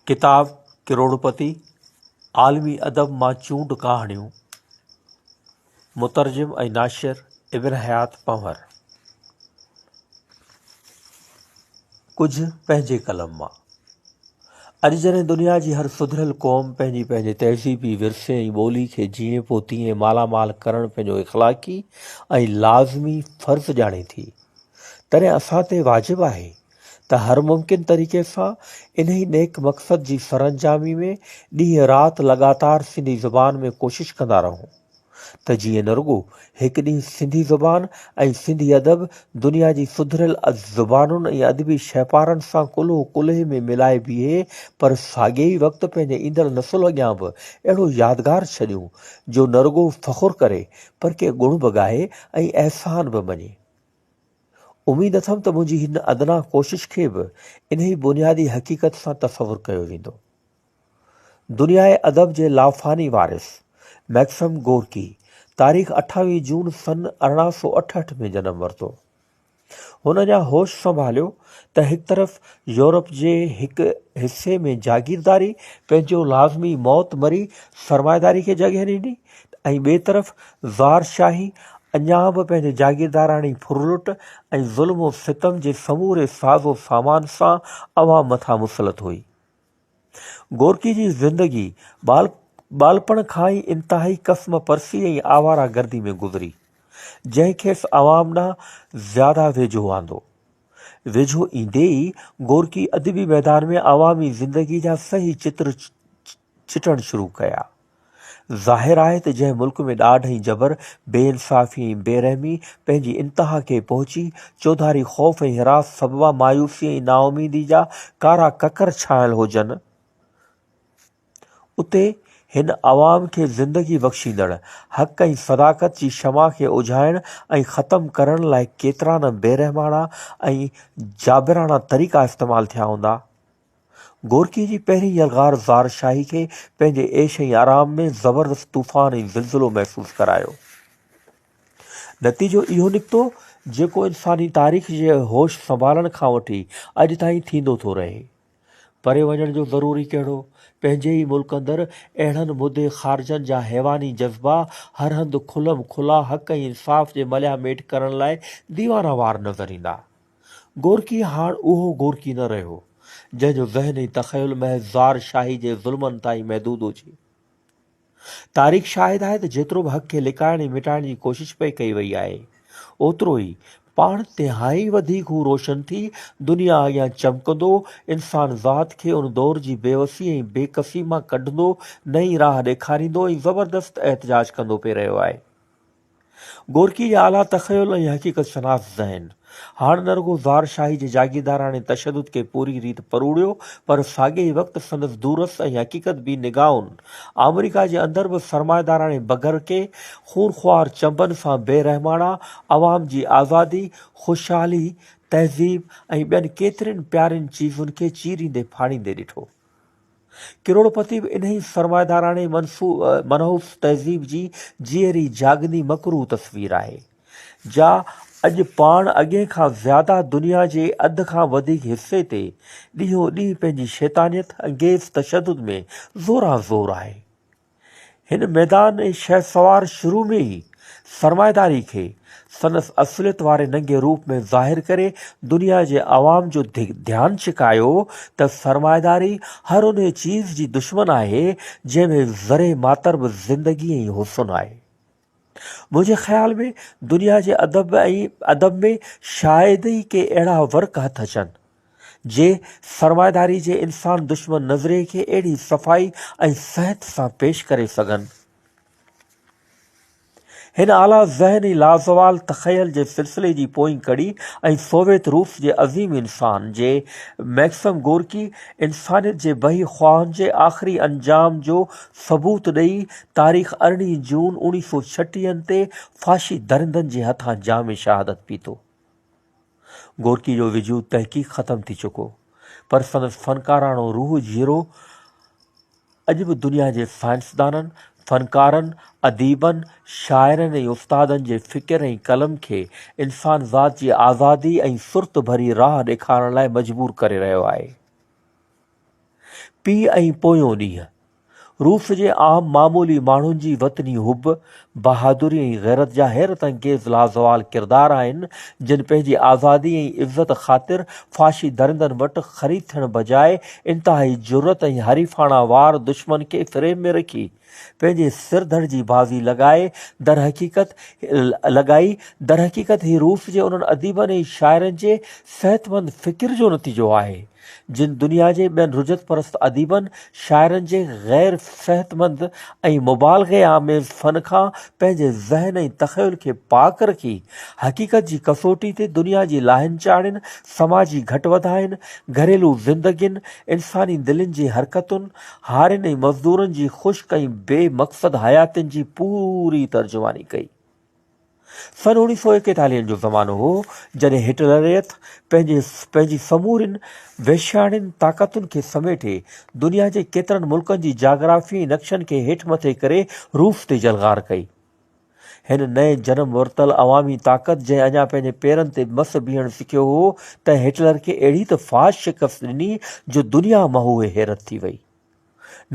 ڪتاب ڪروڙپتي، عالمي ادب مان چونڊ ڪهاڻيون، مترجم ۽ ناشر ابن حيات پنهور، ڪجهه پنهنجي قلم مان. اڄ جڏهن دنيا جي هر سڌريل قوم پنهنجي پنهنجي تهذيبي ورثي ۽ ٻولي کي جيئن پوء تيئن مالا مال ڪرڻ پنهنجو اخلاقي ۽ لازمي فرض ڄاڻي ٿي، تڏهن اسان تي واجب آهي ته هر ممڪن طريقي سان انهي نيڪ مقصد جي سرانجامي ۾ ڏينهن رات لڳاتار سنڌي زبان ۾ ڪوشش ڪندا رهون ته جيئن نه رڳو هڪ ڏينهن سنڌي زبان ۽ سنڌي ادب دنيا جي سڌريل زبانن ۽ ادبي شهپارن سان ڪلهو ڪلهي ۾ ملائي بيهي پر ساڳئي ئي وقت پنهنجي ايندڙ نسل اڳيان به اهڙو يادگار ڇڏيون جو نه رڳو فخر ڪري پر ڪي ڳڻ به ڳائي ۽ احسان به مڃي. اميد اٿم ته منهنجي هن ادنيٰ ڪوشش کي به انهي بنيادي حقيقت سان تصور ڪيو ويندو. دنياء ادب جي لافاني وارث ميڪسم گورڪي تاريخ اٺاويهه جون سن ارڙهن سؤ اٺهٺ ۾ جنم ورتو. هن اڃا هوش سنڀاليو ته هڪ طرف يورپ جي هڪ حصي ۾ جاگيرداري پنهنجو لازمي موت مري سرمائيداري کي جڳهه ڏني ۽ ٻئي طرف زار شاهي اڃا به پنهنجي جاگيرداراڻي ڦرلٽ ۽ ظلم و ستم جي سموري ساز و سامان سان عوام مٿان مسلط هئي. گورڪي جي زندگي ٻال ٻالپڻ کان ئي انتهائي قسم پرسي ۽ آواره گردي ۾ گذري، جنهن کيس عوام ڏانهن زياده ويجهو آندو. ويجهو ايندي ئي گورڪي ادبي ميدان ۾ عوامي زندگي جا صحيح چتر چٽڻ شروع ڪيا. ظاهر آهي ته جنهن ملڪ ۾ ڏاڍ ۽ جبر، بي انصافي ۽ بي رحمي پنهنجي انتها کي پهچي، چوڌاري خوف ۽ حراس سببان مايوسي ۽ نااميدي جا ڪارا ڪڪر ڇانيل هجن، اتي هن عوام کي زندگي بخشيندڙ، حق ۽ صداقت جي شمع کي اجهائڻ ۽ ختم ڪرڻ لاء ڪيترا نه بيرحماڻا ۽ جابراڻا طريقا استعمال ٿيا هوندا. گورڪيء جي پهرين يلغار زار شاهي کي پنهنجي عيش ۽ آرام ۾ زبردست طوفان ۽ زلزلو محسوس ڪرايو. نتيجو اهو نڪتو جيڪو انساني تاريخ جي هوش سنڀالڻ کان وٺي اڄ تائين ٿيندو ٿو رهي. پري وڃڻ جو ضروري ڪهڙو؟ پنهنجي ئي ملڪ اندر اهڙن مدي خارجن جا حيواني جذبا هر هنڌ کلم کلا حق ۽ انصاف جي مليا ميٽ ڪرڻ لاء ديوانا وار نظر ايندا. گورڪي هاڻ اهو گورڪي نه رهيو، جنهن جو ذهن ۽ تخيل محض زار شاهي جي ظلمن تائين محدود هجي. تاريخ شاهد آهي ته جيترو به حق کي لڪائڻ ۽ مٽائڻ جي ڪوشش پئي ڪئي وئي آهي، اوترو ئي پاڻ تهائين وڌيڪ هو روشن ٿي دنيا اڳيان چمڪندو، انسان ذات کي ان دور جي بيوسي ۽ بيڪسي مان ڪڍندو، نئين راهه ڏيکاريندو ۽ زبردست احتجاج ڪندو پئي رهيو آهي. گورڪي جا اعليٰ تخيل ۽ حقيقت شناس ذهن هاڻ نه رڳو زار شاهي جي جاگيرداراڻي تشدد کي پوريء ريت پروڙيو پر ساڳئي ئي وقت سندس دورس ۽ حقيقت بي نگاهن آمريڪا جي اندر به سرمائيداراڻي بگرڪي، خونخوار چنبن سان بي رحماڻا عوام جي آزادي، خوشحالي، تهذيب ۽ ٻين ڪيترين پيارين چيزن کي چيريندي ڦاڙيندي ڏٺو. ڪروڙپتي به انهي سرمائيداراڻي منحوس تهذيب جي جيئري جاڳندي مڪروهه تصوير آهي، جا اڄ پاڻ اڳين کان زياده دنيا جي اڌ کان وڌيڪ حصي تي ڏينهون ڏينهن پنهنجي شيطانيت انگيز تشدد ۾ زوران زور آهي. هن ميدان ۽ شهسوار شروع ۾ ئي سرمائيداري کي سندس اصليت واري ننگي روپ ۾ ظاهر ڪري دنيا جي عوام جو ڌيان ڇڪايو ته سرمائيداري هر انهي چيز جي دشمن آهي جنهن ۾ ذري ماتر به زندگي ۽ حسن آهي. منهنجي خيال ۾ دنيا جي ادب ۽ ادب ۾ شايد ئي ڪي اهڙا ورق هٿ اچن، جي سرمائيداري جي انسان دشمن نظرئي کي اهڙي صفائي ۽ صحت سان پيش ڪري سگهن. هن اعليٰ ذهن ۽ لازوال تخيل جي سلسلي جي پوئين ڪڙي ۽ سوويت روس جي عظيم انسان، جي مئڪسم گورڪي انسانيت جي بهي خواهن جي آخري انجام جو ثبوت ڏئي تاريخ ارڙهين جون اوڻيهه سؤ ڇٽيهن تي فاشي درندن جي هٿان جام شهادت پيتو. گورڪي جو وجود تحقيق ختم ٿي چڪو پر سندس فنڪاراڻو روح جيرو اڄ به دنيا جي سائنسدانن فنڪارن اديبن شاعرن ۽ استادن جي فڪر ۽ قلم کي انسان ذات جي آزادي ۽ سرت ڀري راهه ڏيکارڻ لاء مجبور ڪري رهيو آهي پي ۽ پويون ڏينهن روس جي عام معمولي ماڻهن جي وطني حب، بهادري ۽ غيرت جا حيرت انگيز لازوال ڪردار آهن، جن پنهنجي آزادي ۽ عزت خاطر فاشي درندن وٽ خريد ٿيڻ بجاء انتهائي جرئت ۽ حريفاڻه وار دشمن کي فريم ۾ رکي پنهنجي سر ڌڙ جي بازي لڳائي درحقيقت لڳائي درحقيقت هي روس جي انهن اديبن ۽ شاعرن جي صحتمند فڪر جو نتيجو آهي، جن دنيا جي ٻين رجعت پرست اديبن، شاعرن جي غير صحتمند ۽ مبالغي آميز فن کان پنهنجي ذهن ۽ تخيل کي پاڪ رکي، حقيقت جي ڪسوٽي تي دنيا جي لاهين چاڙهين، سماجي گهٽ وڌاين، گهريلو زندگين، انساني دلين جي حرڪتن، هارين ۽ مزدورن جي خشڪ ۽ بي مقصد حياتين جي پوري ترجماني ڪئي. سن اوڻيهه سؤ ايڪيتاليهن جو زمانو هو، جڏهن هٽلريت پنهنجي پنهنجي سمورين وحشياڻين طاقتن کي سميٽي، دنيا جي ڪيترن ملڪن جي جاگرافيائي نقشن کي هيٺ مٿي ڪري روس تي جلغار ڪئي. هن نئين جنم ورتل عوامي طاقت جنهن اڃا پنهنجي پيرن تي مس بيهڻ سکيو هو، تنهن هٽلر کي اهڙي ته فاش شڪست ڏني جو دنيا مهوئي حيرت ٿي وئي.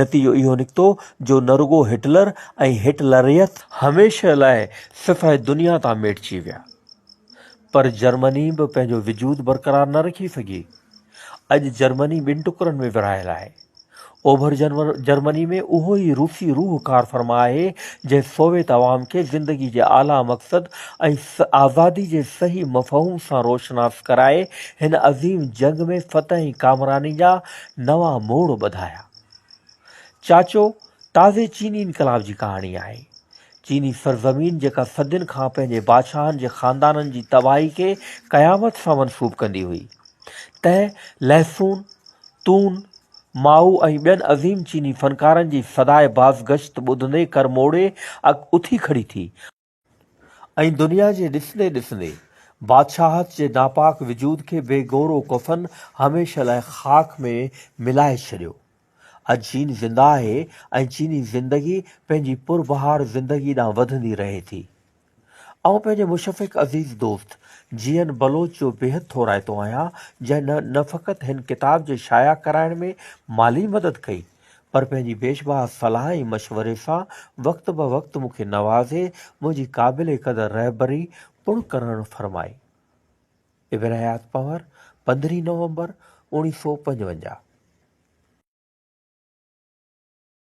نتيجو اهو نڪتو جو نه رڳو هٽلر ۽ هٽلريت هميشه لاء سفح دنيا تان ميٽجي ويا پر جرمني به پنهنجو وجود برقرار نه رکي سگهي. اڄ جرمني ٻن ٽڪرن ۾ ورهايل آهي. اوڀر جرمني ۾ اهو ئي روسي روح ڪار فرما آهي جنهن سوويت عوام کي زندگي جي اعليٰ مقصد ۽ آزادي جي صحيح مفهوم سان روشناس ڪرائي هن عظيم جنگ ۾ فتح ۽ ڪامراني جا نوان موڙ ٻڌايا. چاچو تازي چيني انقلاب جي ڪهاڻي آهي. چيني سرزمين جيڪا صدين کان پنهنجي بادشاهن جي خاندانن جي تباهي کي قيامت سان منسوب ڪندي هئي. تنهن لهسون، تون، مائو ۽ ٻين عظيم چيني فنڪارن جي صدائي بازگشت ٻڌندي ڪرموڙي اٿي کڙي ٿي. ۽ دنيا جي ڏسندي ڏسندي بادشاهت جي ناپاڪ وجود کي بي گور و ڪفن هميشه لاء خاڪ ۾ ملائي ڇڏيو. اڄ چين زنده آهي ۽ چيني زندگي پنهنجي پر بهار زندگي ڏانهن وڌندي رهي ٿي. آئون پنهنجي مشفق عزيز دوست جي اين بلوچ جو بيحد ٿورائتو آهيان جنهن نه فقط هن ڪتاب جي شايع ڪرائڻ ۾ مالي مدد ڪئي، پر پنهنجي بيشباهه صلاح ۽ مشوري سان وقت به وقت مون کي نوازي منهنجي قابل قدر رهبري پڻ ڪرڻ فرمائي. ابن حيات پنهور، پندرهين نومبر اوڻيهه سؤ پنجونجاهه.